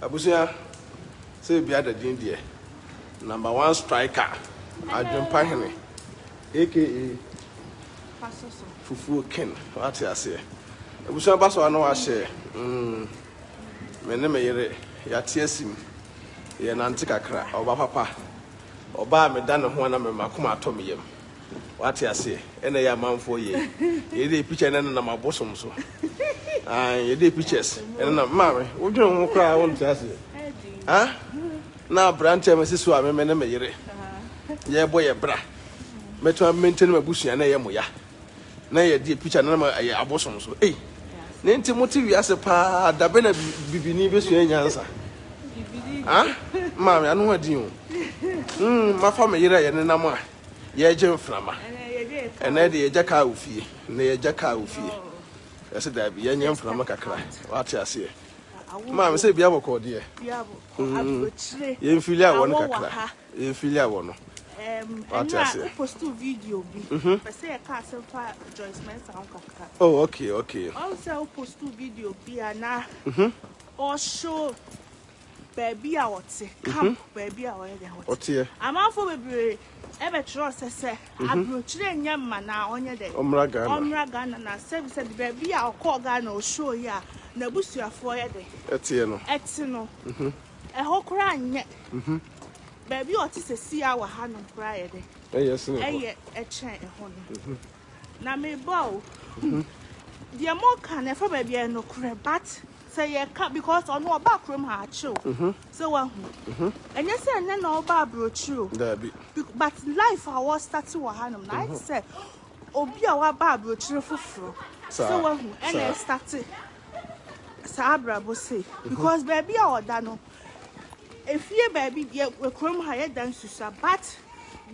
Abusua sɛ ebi ada din deɛ number one striker adwempa hene aka fufuo ken wate aseɛ abusua ba so ano ahyɛ mm me ne me yere yate asim yɛ nante kakra ɔba papa ɔba a meda ne ho ana me makoma atɔ me yam Wate aseɛ ɛna ɛyɛ amanfoɔ yei yɛde picture na nenam abosom so ae yɛde pictures nenam maame wodwene ho koraa wonte aseɛ ha na aberanteɛ me sisi a meme ne me yere yɛbɔ yɛ bra mɛtumi maintain m'abusua na ɛyɛ mo ya na yɛde picture nenam ɛyɛ abosom so ei ne nti mote wiase paa dabe na bibini bɛsua nyansa ha maame ano adin o hmm, mafa me yere a yɛnenam a yɛregye mframa ɛnɛ yɛde yɛgya kaa wo fie na yɛgya kaa wo fie ɛsɛ daabi yɛnyɛ mframa kakra wate aseɛ maame sɛ bia bɔkɔɔ deɛ mm. yɛmfili awɔ no kakra yɛmfili awɔ no wate aseɛ mhm. oh okay okay ɔsɛ wo post video bi a na ɔshow baabi a ɔte mhm. camp baabi a ɔyɛ dɛ ɔteɛ amanfoɔ bebree ɛbɛtwerɛ sɛ sɛ mhm. aburokyerɛ nyɛ mma na ɔnyɛ dɛ ɔmmra ghana ɔmmra ghana na sɛbi sɛbi baabi a ɔkɔɔ ghana ɔhyɛɔ yi a n'abusuafoɔ yɛ dɛ ɛteɛ no ɛte no mhm. ɛhɔ koraa nyɛ baabi a ɔte sɛ si a wɔ ha nom koraa yɛ dɛ ɛyɛ ɛkyɛn ɛhɔ no Na mebɔ o. Mhm. Deɛ mo ka na ɛfa baabi a ɛnokorɛ but sɛ yɛka because ɔno ɔba kurom ha akyew mhm. sɛ wahu mhm. ɛnyɛ sɛ ɛnɛ na ɔba aburokyiri o daabi but life a wɔstate wɔ hanom na ayɛ sɛ obi a waba aburokyiri foforɔ sɛ wahu ɛna ɛstate saa abrabɔ sei because baabi a ɔda no efie baabi yɛ kurom ha yɛ dan susa but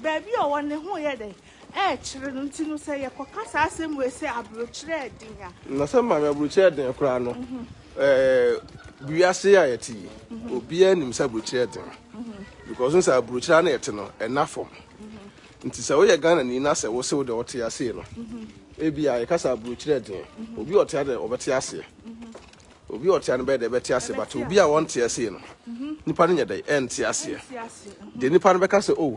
baabi a ɔwɔ ne ho yɛ dɛ ɛrekyere no nti no, sɛ yɛkɔka saa asɛm wei sɛ aburokyerɛ den a. Na sɛ maame aburokyerɛ den koraa no, wiase a yɛte yi, obiara nim sɛ aburokyerɛ den. Because sɛ aburokyerɛ na ɛte no, ɛna fam. Nti sɛ woyɛ Ghana ni na sɛ wose wo deɛ wote aseɛ no, ebi a yɛka sɛ aburokyerɛ den. Obi a ɔte ha deɛ ɔbɛte aseɛ. Obi a ɔte ha no bɛyɛ deɛ ɛbɛte aseɛ, but obi a ɔnte aseɛ no, nipa no nyɛ dɛ ɛnte aseɛ. Deɛ nipa no bɛka sɛ oh.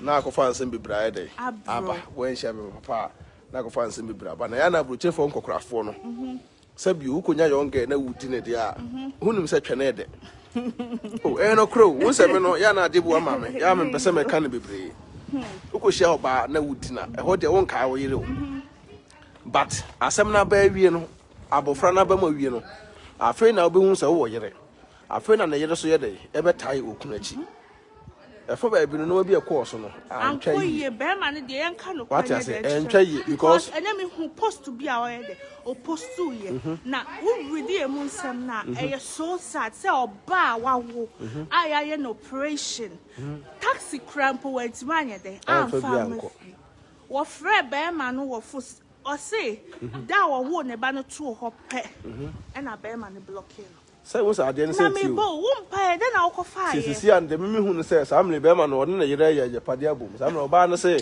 Na akɔfa nsɛm bebree ayɛ dɛn aba? Wanhyia me papa a, na akɔfa nsɛm bebree aba. Na ɛyɛ a na aburokyerefoɔ nkɔkorafoɔ no, sɛ bio wokɔnya young girl na wodi ne deɛ a, wonim sɛ twɛne ɛdɛ. O, ɛyɛ nokorɛ o, wo sɛ me no, yɛ a na adeɛ bu ama me, yɛ a mempɛ sɛ mɛka no bebree. Wokɔhyia ɔbaa na wodi no a, ɛhɔ deɛ wonkae wo yere o. But asɛm no aba awie no, abɔfra no aba mu awie no, afei na wobɛhu sɛ wowɔ yere. Afei na ne yere so yɛ dɛn? Ɛbɛtae okunu akyi. Ɛfa baabi no nneɛma bi a ɛkɔɔ so no antwa yie. Ankɔ yie bɛrima no deɛ yɛnka no kwan yɛ dɛ ɛntwa yie because ɛnɛ mi hu post bi a ɔyɛ dɛ opostu yɛ mhm. na wuridi emu nsɛm na mhm. ɛyɛ so sad sɛ ɔbaa a wawo mhm. a yɛayɛ no operation taxi kura mpo wantumi anyɛ dɛ amfa no wɔfrɛ bɛrima no wɔ fo ɔse da a wɔwoo ne ba no too hɔ pɛ ɛna bɛrima no blɔke no. Sɛ wohu sɛ adeɛ no sɛ nti o. Sɛ ɛsisi a, deɛ me mehu no sɛ, saa mmerɛ yi bɛrima no ɔne ne yerɛ yɛ agyapadeɛ abom. Saa mmerɛ ɔbaa no se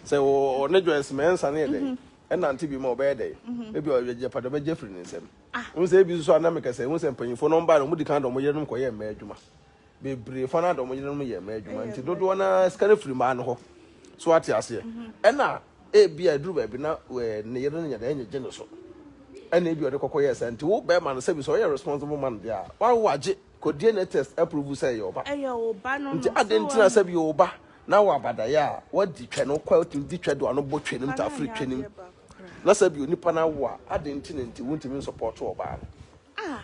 sɛ ɔne Joyce Mensah no yɛ dɛn ɛnante bio mu a ɔbɛyɛ dɛn? Ebia ɔyɛ agyapadeɛ ɔbɛgye afiri ne nsam. Wohu sɛ ebi nso a na mekasɛ, wohu sɛ mpanyinfoɔ no wɔn baeɛ no wɔn dikan de wɔn yerenom kɔyɛɛ mmaa adwuma. bebree fa no ara de wɔn yerenom yɛ mmaa adwuma nti dodoɔ no ara sika no firi mmaa no hɔ so ate aseɛ mhm. ɛna ebi a ɛduru baabi na ɛɛ ne yere no nyɛ dɛ ɛnyɛ gye ne so ɛna ebi ɔde kɔkɔ yɛ sɛ nti wo bɛrima no sɛbi sɛ ɔyɛ responsible man deɛ a wawo agye kɔ dna test approve sɛ ɛyɛ ɔba ɛyɛ ɔba no no nti ade ntina sɛbi ɔba na wɔ abadaeɛ a wadi twɛ no kɔ ɛtumi di twɛ do ano bɔ twɛ nim ta afiri twɛ nim na sɛbi onipa no awo a ade ntina nti wontumi nsɔpɔto ɔbaa no. Ah.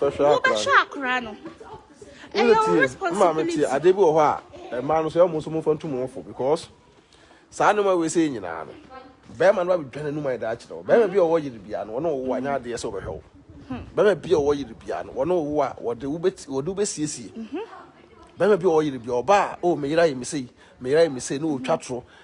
wobɛhwɛ akora no ɛyɛ wo responsibility tie adeɛ bi wɔ hɔ a mmaa no so ɛmu nso momfa ntu mo fo because saa nneɛma wei sɛ nyinaa no bɛrima no abɛdwa n'anum ayɛ daa kyerɛ wo bɛrima bi a ɔwɔ yere bia no ɔne ɔwo anyɛ adeɛ sɛ ɔbɛhwɛ wo bɛrima bi a ɔwɔ yere bia no ɔne ɔwo a wɔde wobɛsiesie bɛrima bi a ɔwɔ yere bia ɔba a o meyera yɛ me sei meyera yɛ me sei ne ɔtwa toro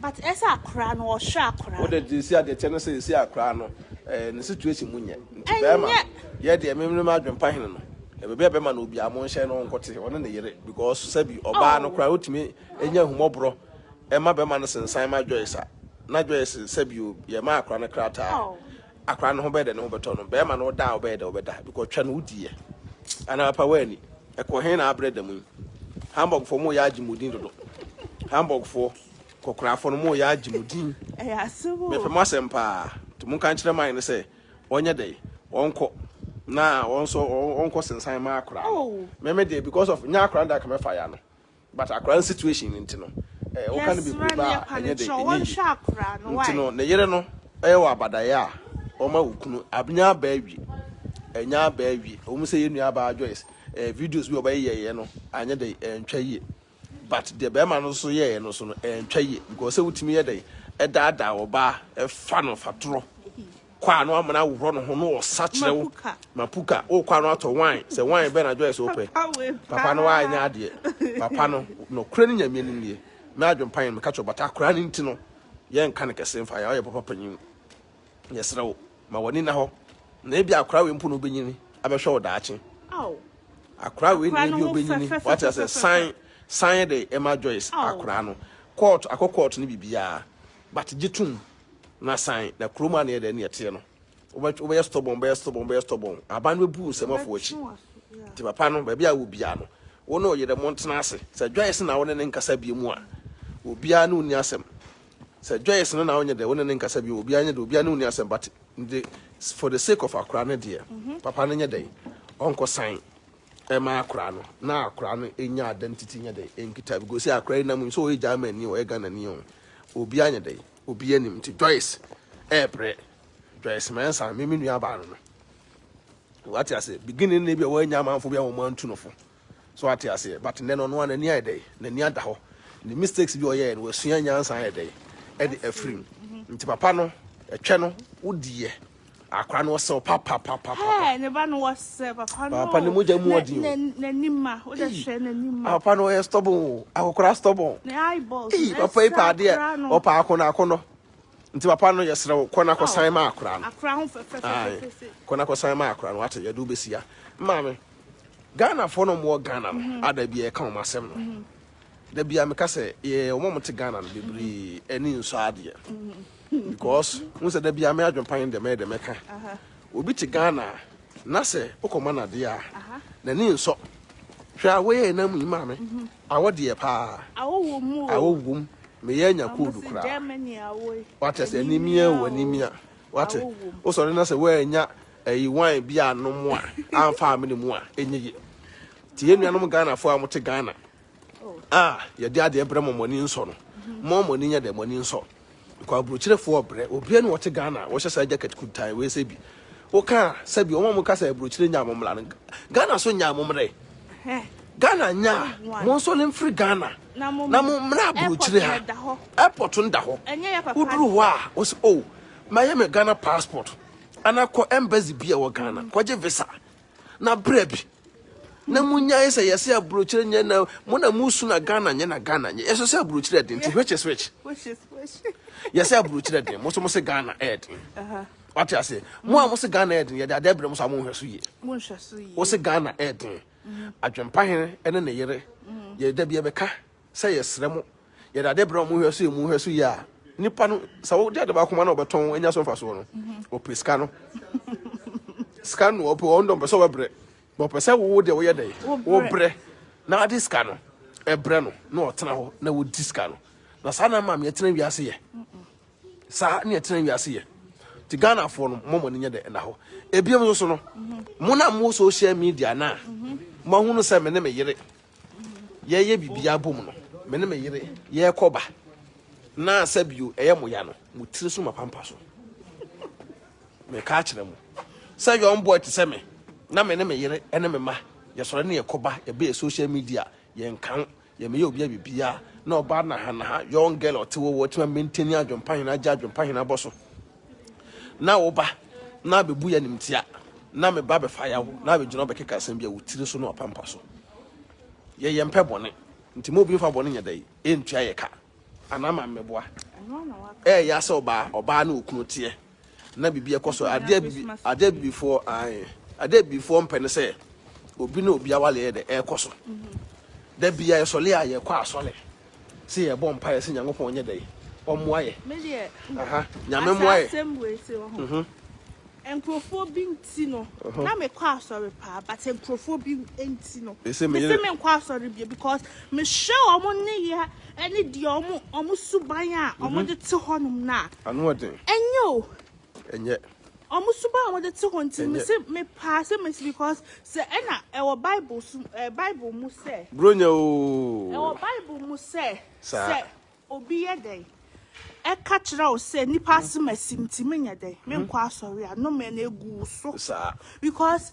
But ɛsɛ akora no ɔhwɛ akora no. Wode gye si a deɛ kyɛ no sɛ ɛsi akora no ɛɛ ne situation mu nyɛ nti bɛɛma no yɛ deɛ me me m'adwen pa hene no ɛbɛbi a bɛɛma no obiaa mo nhyɛ no nkote ɔne ne yere because sɛbi ɔbaa no koraa ɔtumi nya ahummɔborɔ ɛma bɛɛma no sensan ma Joyce a na Joyce sɛbi o yɛ ma akora no krataa akora no ho bɛyɛ dɛ ne ho bɛtɔ no bɛrima no ɔda a ɔbɛyɛ dɛ ɔbɛda because twɛ no wodiiɛ anaa papa woani ɛkɔ he na abrɛ da mu yi hamburgfoɔ mo yɛ agye mo din dodo hamburgfoɔ kɔkorafoɔ no mo yɛ agye mo din mepɛ mo asɛm paa nti mo nka nkyerɛ man no sɛ ɔnyɛ dɛ ɔnkɔ na ɔnso ɔnkɔ sensan ma akora no meme deɛ because of nyɛ akora no da kama fa ya no But akora no situation no nti no eh woka no bebree ba a ɛnyɛ den ɛnyɛ yie nti no ne yere no ɛyɛ wɔ abadaeɛ a wɔma wo kunu abnya abaa wie ɛnya abaa wie ɛwɔ mu sɛ yɛ nua abaa Joyce eh videos bi ɔbɛyɛ yɛyɛ no anyɛ den ɛntwa yie but deɛ bɛrima no nso yɛyɛ no so no ɛntwa yie because sɛ wotumi yɛ den ɛdaadaa ɔbaa ɛfa no fatorɔ. kɔ ano ama no ahohorɔ ne ho na ɔsa kyerɛ wo mapuka wokɔ ano atɔ wan sɛ wan bɛn adwoɛ sɛ wopɛ papa no waanyɛ adeɛ papa no nokorɛ ne nyame anim deɛ me adwempa yɛ meka kyerɛ bata akora no nti no yɛnka no kɛse mfa yɛ ɔyɛ papa panyin yɛserɛ wo ma w'ani na hɔ na ebi akora wei mpo na wobɛnyini abɛhwɛ wo daakye akora wei na ebi wobɛnyini wate asɛ san san de ɛma Joyce akora no kɔɔto akɔ kɔɔto no biribiara but gye tom Na san, na kurom a na ɛyɛ dɛ ne ɛteɛ no, wobɛyɛ stɔbɔn, bɛyɛ stɔbɔn, bɛyɛ stɔbɔn. Aban no bɛbu nsɛmɔfoɔ akyi. Nti papa no, baabi a wɔ biara no, wo ne wo yere montena ase. Sɛ Joyce na wo ne ne nkasa biom a, obiara ne wo nni asɛm. Sɛ Joyce no na wonyɛ dɛ wo ne ne nkasa biom, obiara nyɛ dɛ, obiara ne wo nni asɛm. But for the sake of akwadaa no deɛ, papa no nyɛ dɛn? Ɔnkɔsan. ɛma akora no na akora no nya ada no titi nyɛ dɛ ɛnkita because sɛ akora yi nam nso ɔyɛ German ni ɔyɛ Ghana ni ɔn obi anyɛ dɛ obi anim nti Joyce ɛɛbrɛ Joyce Mensah me me nua baa no no wate aseɛ beginning no bi a wɔanya amanfo bi a wɔn antu no fo so wate aseɛ but nnɛ no ɔno a n'ani ayɛ dɛ n'ani ada hɔ ne mistakes bi ɔyɛɛ no wasua nyansa ayɛ dɛ ɛde afirim nti papa no ɛtwɛ no wodiɛ Akora no ɔsɛ pa pa pa pa. Hey, ne ba no ɔsɛ papa no. Papa ne mogya mu ɔdi o. N'anim a, o de hwɛ n'anim a. Papa no ɔyɛ stubborn o, akokora stubborn. Ne eyeballs. Ee, papa yi pa adeɛ, ɔpa akono akono. Nti papa no yɛsrɛ wo, kɔ na kɔsan ma akora no. Akora ho fɛfɛfɛfɛfɛ. Kɔ na kɔsan ma akora no, ate yɛde wobɛsia. Maame, Ghanafoɔ no mmoɔ Ghana no, ada bi ɛka wɔn asɛm no. Da biara meka sɛ yɛyɛ wɔn a wɔte Ghana no bebree ani nsɔ adeɛ because n sɛ da biara me adwempa yɛn dɛm ɛyɛ dɛm ɛka obi te Ghana na sɛ wokɔma no adeɛ a n'ani nsɔ hwɛ a woyɛ yɛ nam yi maa me mhm. awɔ deɛ paa awɔ wom meyɛ anya koodu koraa wate sɛ animia wɔ animia wate wosɔre na sɛ woanya ayi wan bi anom a amfa amene mu a ɛnyɛ yie Nti yɛn nuanom Ghanafoɔ a mote Ghana a yɛde adeɛ brɛ mo mo ani nsɔ no mo mo ani nyɛ dɛ mo ani nsɔ because aburokyerɛfoɔ brɛ obiara ne wɔte Ghana a wɔhyɛ saa jacket kuntan wei sɛ bi woka a sɛ bi wɔn a moka sɛ aburokyerɛ nyaa mo mmara no Ghana so nyaa mo mmerɛ Ghana nyaa mo nso ne mfiri Ghana na mo mmara aburokyerɛ ha airport no da hɔ woduru hɔ a wɔsi o oh, mayɛ me Ghana passport anakɔ embassy bi a wɔ Ghana kɔgye visa na berɛ bi na munyae sɛ yɛsɛ aburokyire nyɛ na mo na musu na ghana nyɛ na ghana nyɛ yɛsɛ sɛ aburokyire ɛden nti which is which yɛsɛ aburokyire ɛden mo nso mo se ghana ɛden wate ase mo a mo se ghana ɛden yɛde adeɛ brɛ mo so a monhwɛ so yie wo se ghana ɛden adwempa hene ɛne ne yere yɛda bi ɛbɛka sɛ yɛsrɛ mo, yɛde ade brɛ wɔn, mohwɛ so yie, mohwɛ so yie a, nipa no, sɛ wogye ade baako ma na ɔbɛtɔn, anya so mfasoɔ no, ɔpɛ sika no. Sika no ɔpɛ, ɔno dɔm pɛ sɛ ɔbɛbrɛ. Na ɔpɛ sɛ wo deɛ woyɛ dɛn? Wobrɛ. Na ade sika no, ɛbrɛ no, na ɔtena hɔ, na wodi sika no. Na saa na maame yɛtena wiase yɛ. Saa na yɛtena wiase yɛ. Ti Ghanafoɔ no, mo mo ne nyɛ dɛ ɛna hɔ. Ebiem nso no, mo na mo social media na, mo ahunu sɛ me ne me yere, yɛyɛ biribiara bom no, me ne me yere yɛkɔ ba, na sɛ bio ɛyɛ mo ya no, mo tiri so mapampa so. Meka akyerɛ mo sɛ young boy te sɛ me, na me ne me yere ne me ma yɛsɔre ne yɛkɔ ba, yɛbɛyɛ social media, yɛnka ho, yɛmɛyɛ obi a biribiara, na ɔbaa nahanaha, young girl ɔte wɔwɔ, ɔtumi maintain adwempa hena agya, adwempa hena bɔ so. na woba na abɛbu yɛ animtia na me ba bɛfa yaw na abɛgyina ɔbɛkeka asɛm bi a wo tiri so na wapampa so yɛyɛ mpɛ bɔne nti ma obi mfa bɔne nyɛ dɛn ɛntua yɛ ka anaa ma mmɛboa ɛyɛ asɛ ɔbaa ɔbaa ne okunu teɛ na biribi ɛkɔ so adeɛ bibi adeɛ bibifoɔ ae adeɛ bibifoɔ mpɛ ne sɛ obi ne obi awale yɛ dɛ ɛkɔ so da bia yɛsɔle a yɛkɔ asɔle sɛ yɛbɔ mpaeɛ sɛ Nyankopɔn nyɛ dɛn ɔmmoa yɛ aha Nyame mmoa yɛ. Asɛm wei se wɔ ho. Nkurɔfoɔ bi nti no na mekɔ asɔre paa but nkurɔfoɔ bi nti no mese menkɔ asɔre bia because mehwɛ ɔmo nneyɛ ɛne deɛ ɔmo ɔmo suban a ɔmo de te hɔnom no a ɛnyɛ o Ɛnyɛ. Ɔmo suban a ɔmo de te hɔ nti no mese mepaa sɛ mesi because sɛ ɛna ɛwɔ bible so ɛɛ eh, bible mu sɛ. Bronya ooo. Ɛwɔ bible mu sɛ. Saa. Sɛ obi yɛ dɛn ɛka kyerɛ wo sɛ nipa asem asim nti menyɛ dɛn menkɔ asɔre a no mɛ na egu so. Saa. Because.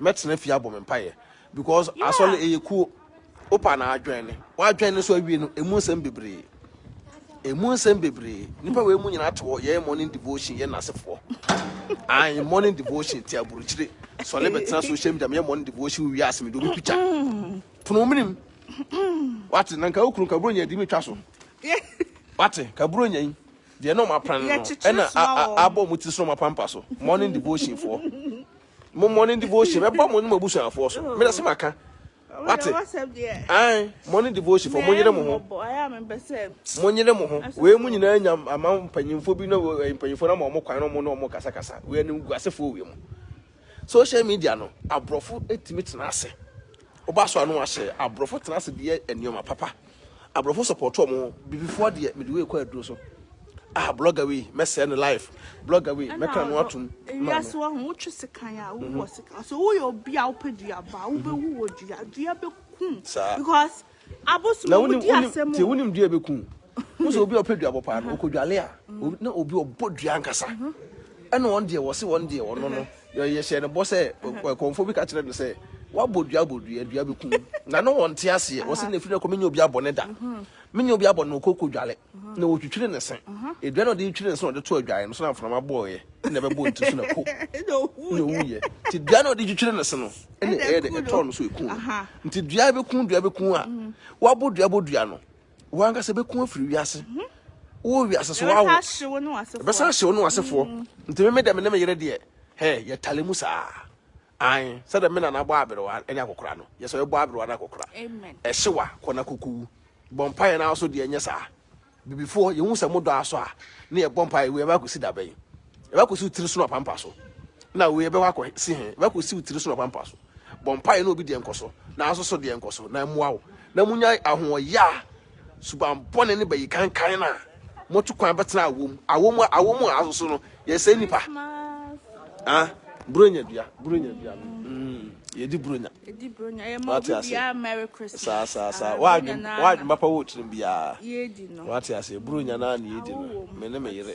mɛtena fie abɔ me mpaeɛ because yeah. asɔre ɛyɛ kuo wopa na adwɛn ne wadwɛn ne so awie no ɛmu nsɛm bebree ɛmu nsɛm bebree nipa wei mu nyinaa te hɔ yɛyɛ morning devotion yɛ nasefoɔ ayi morning devotion ti aburukyire sɔle bɛtena social media meyɛ morning devotion wie ase mede obi pikya pono menim wate na nka wokunu kaburo nya di metwa so wate kaburo nya yi deɛ na ɔmapran no ɛna abɔ mu ti so ɔmapampa so morning devotion foɔ Mo morning devotion bɛbɔ mo ne mo abusuafoɔ so. Mena se maka. Wate? Ae, morning devotion fɔ mo nyere mo ho. Mo nyere mo ho. Wei mo nyinaa nya ama mpanyinfoɔ bi na eh, mpanyinfoɔ na ma wɔn kwan na wɔn na wɔn kasa kasa. Wei ne guasefoɔ wei mo. Social media no, aborɔfo etimi tena ase. Oba so ano ahyɛ aborɔfo tena ase deɛ nneɛma papa. Abrɔfo support ɔmo ho. Bibifoɔ deɛ mede wei kɔ aduro so ah blogger wei mɛsɛɛ ne life blogger wei mɛka no atom ma no. Wiase ɔho wotwe sekan a wowu wɔ sekan ɔsɛ woyɛ obi a wopɛ dua ba wobɛwu wɔ dua dua bɛkum because abosom ɔmo di asɛm o. Tie wonim dua bɛku wosɛ obi a ɔpɛ dua bɔ paa no ɔkɔdwale a na obi ɔbɔ dua ankasa ɛna wɔn deɛ wɔse wɔn deɛ wɔno no. Yɛhyɛɛ no bɔ sɛ, kɔmfoɔ bi ka kyerɛɛ no sɛ, Woabɔ dua abɔ dua, dua bɛku wo. Na na ɔnte aseɛ. Ɔse, Na ɛfiri nnɛ rekɔ menyɛ obi abɔne da. Menyɛ obi abɔne. Na ɔkɔ kɔdware. Na ɔtwitwiri ne se. Dua no a ɔde retwitwiri ne se na ɔde to adwaeɛ no so na mframa bɔeɛ na ɛbɛbɔɔ ne ti so na ko. Na ɔwuiɛ. Nti dua no a ɔde retwitwiri ne se no na ɛyɛɛ dɛ? Ɛtɔɔ no so, ɛkuu no. Nti dua bɛku dua bɛku a, woabɔ dua abɔ dua no. wɔn ankasa bɛku afiri wiase wɔ wiase so wawo ɛbɛsan ahye wo ne wasefoɔ mm. nti meme dɛ me ne me yere deɛ hɛ yɛtale mu saa an sɛ dɛ me nana bɔ aberewa ne akokora no yɛ sɛ ɔbɔ aberewa ne akokora ɛhye wa kɔ na kokowu bɔ mpa yɛ no so deɛ nyɛ saa bibifoɔ yɛhu sɛ modɔ aso a ne yɛbɔ mpa yɛ wei ɛbɛ akɔsi dabɛn Yɛbɛkɔsi wo tiri so na wapampa so. Na wei yɛbɛkɔ akɔsi he? Yɛbɛkɔsi wo tiri so na wapampa so. Bɔ mpaeɛ na obi deɛ nkɔ so, na nso so deɛ nkɔ so, na mmoa wo. Na monya ahoɔyaa subammɔne ne bayikankan no a moatu kwan bɛtena awom, awom a, awom a, nso so no, yɛsɛe nnipa. Ha? Buronya dua, buronya dua. Mm, yɛdi buronya. Yɛdi buronya, yɛ ma obi biara Merry Christmas. Saa, saa, saa. W'adwen, w'adwen papa wɔ tirim biara. Yɛdi no. Wate aseɛ, buronya no a na yɛdi no, me ne me yere.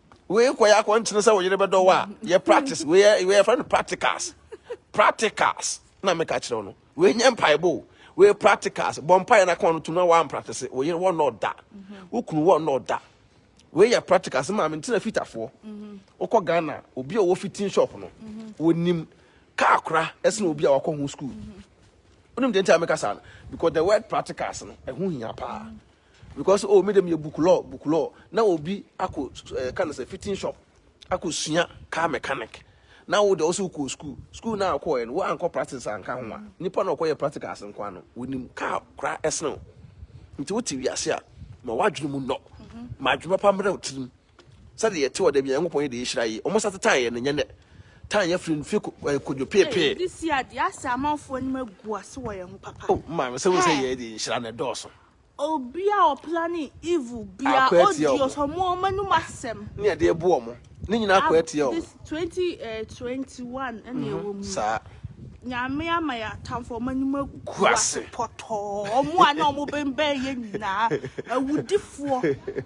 wei kɔ yɛ akɔnkyene sɛ wo yere bɛdɔ wo a yɛ practice wei yɛ wei yɛfrɛ no practicals practicals na meka kyerɛ wo no wei nyɛ mpaebɔ o wei practicals bɔ mpaeɛ na ka ɔno tom na woampractice wo yere wɔnnɔ ɔda wo kunu wɔnnɔ ɔda wei yɛ practicals maa me ntina fitafoɔ wokɔ ghana obi a ɔwɔ fitting shop no wɔnim kaa kora ɛsene obi a wakɔ ho school wonim deɛ nti a meka saa no because the word practicals no ɛho hia paa Because oh me de meyɛ book law book law na obi akɔ ɛka no sɛ fitting shop akɔ sua car mechanic na wo de ɔsɛ wokɔ school school na akɔ yɛ no wo ankɔ practice anka ho a nipa na ɔkɔ yɛ practicals nko ano wonim car kora ɛsene wo nti wote wiase a ma wadwene mu nnɔ mhm. ma adwuma pa mmerɛ wo tirim sɛde yɛte wɔ da bi nyankopɔn yɛ de yɛhyira yi ɔmo sa te tan yɛ no nyɛ nɛ tan yɛ firi mfe kodwo peepee this year deɛ asɛ amanfoɔ anim agu ase wɔ yɛn ho papa oh maa me sɛ wo sɛ yɛ de nhyira na ɛdɔɔso Obi a ɔplane evil bia Akɔ atia ɔdi ɔmo. ɔsɔmo ɔmo anom asɛm. Ne ɛde rebo ɔmo. Ne nyinaa akɔ Ab atia ɔmo. this twenty eh twenty one ɛna Mhm, ɛwɔ mu yi. saa. Nyame ama yɛn atamfo ɔmo anim agu Gu ase ase. pɔtɔɔ. Ɔmo a na ɔmo bɛnbɛn yɛn nyinaa awudifoɔ.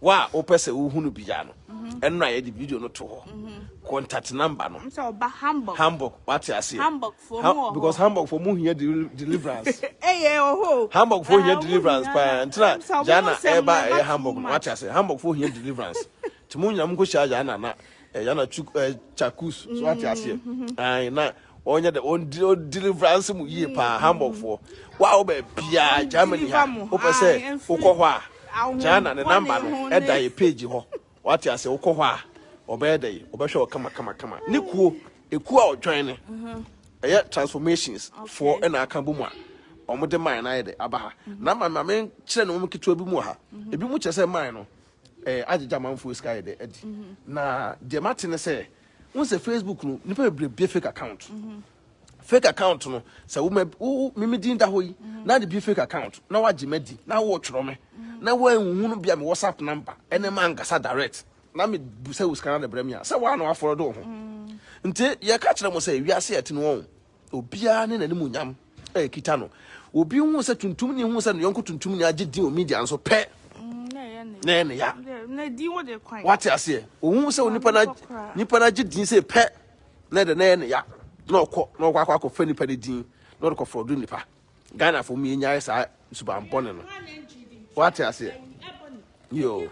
Wo a wopɛ sɛ wohu no bia no, ɛno na yɛde video no to hɔ. Contact number no. Sɛ ɔba Hamburg. Hamburg, wate aseɛ. Hamburgfoɔ mu wɔ hɔ. Because Hamburgfoɔ mu hia deliverance. Ɛyɛ ɔhɔ. Hamburgfoɔ hia deliverance paa. Ntina Jana ɛba ɛyɛ Hamburg no, wate aseɛ. Hamburgfoɔ hia deliverance. Nti mo nyina mo nkɔhyia Jana na Jana Chakus, so wate aseɛ. Ae na Wɔnyɛ dɛ, wɔn de wɔn deliverance mu yie paa, Hamburgfoɔ. Wo a wo baabiara, Germany ha, wopɛ sɛ wokɔ hɔ a, Jana ne number no ɛda yɛ page hɔ, wate aseɛ, wokɔ hɔ a, ɔbɛyɛ dɛ, ɔbɛhwɛ wo kama kama kama. Ne kuo, ekuo a ɔjoin no, ɛyɛ transformations foɔ ɛna aka bom a, wɔn de mine no ayɛ dɛ, aba ha. Na ma ma me nkyerɛ ne wɔn ketewa bi mu wɔ ha, ebi mu kyerɛ sɛ mine no, ɛɛ agyegye amanfoɔ sika ayɛ dɛ adi. Na deɛ mate ne sɛ, wọn sɛ facebook no nipa bebree bie fake account fake account no sɛ wo wo mimi din da hɔ yi na de bie fake account na wagye ma di na wɔ twerɛ me na wɔn ehuhu no bia me whatsapp number ɛne ma nkasa direct na me bu sɛ wosika na de brɛ me a sɛ wɔn a na wɔafɔlɔ do ho nti yɛ ka kyerɛ mo sɛ wiase ɛte no wɔn. Obiara ne n'animuonyam a ɛkita no. Obi hu sɛ tuntumni hu sɛ ne yɔnko tuntumni agye din wɔ media nso pɛ. Mm, na ɛyɛ ne ya. Na ɛyɛ ne ya. Na din wo de kwan. Wate aseɛ. Ohun sɛ onipa na nipa na agye din sɛ pɛ. Na ɛdɛ na ɛyɛ ne ya. Na ɔkɔ na ɔkɔ akɔ akɔfa nipa ne din na ɔde kɔfrɔdo nipa. Ghanafoɔ mu yɛnyae saa suban bɔne no wate aseɛ yoo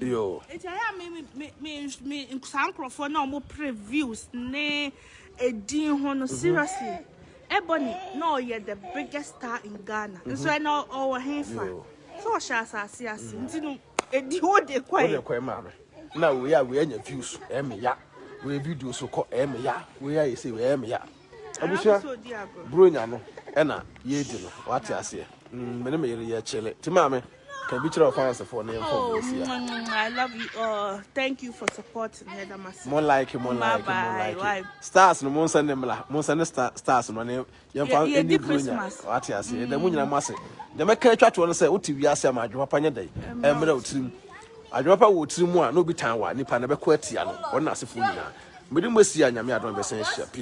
yoo nti ayɛ a me me me me saa nkurɔfoɔ na wɔn pere views ne edin ho no mhm. seriously Ebony na ɔyɛ the biggest star in Ghana mhm. nso ɛna ɔwɔ he fa so ɔhyɛ asase ase mhm. nti no edi wo de kɔɛ wo de kɔɛ maame na wei a wei anya views ɛmɛ ya wei video so kɔ ɛmɛ ya wei a yɛ sɛ wei ɛmɛ ya. Abusua bronya no ɛna yɛdi no wate aseɛ mm, mene me yere yɛkyele ti maame ka bi kyerɛ ɔfansefo ne yɛmfa oh, ɔsia mm, mm, I love you all thank you for supporting me da mase mo like mo like mo like stars no mo nsa ne mla mo nsa ne stars no ne yɛmfa ɛni bronya wate aseɛ ɛda mu nyina mo ase deɛ mɛka atwa toɔ no sɛ wote wiase ama adwuma pa nyɛ dɛn ɛmmerɛ wo tirim adwuma pa wɔ tirim mu a na obi tan wa nipa na bɛkɔ atia no wɔn na asefoɔ nyinaa mede mo asi a nyame adɔn bɛsɛn ahyia peace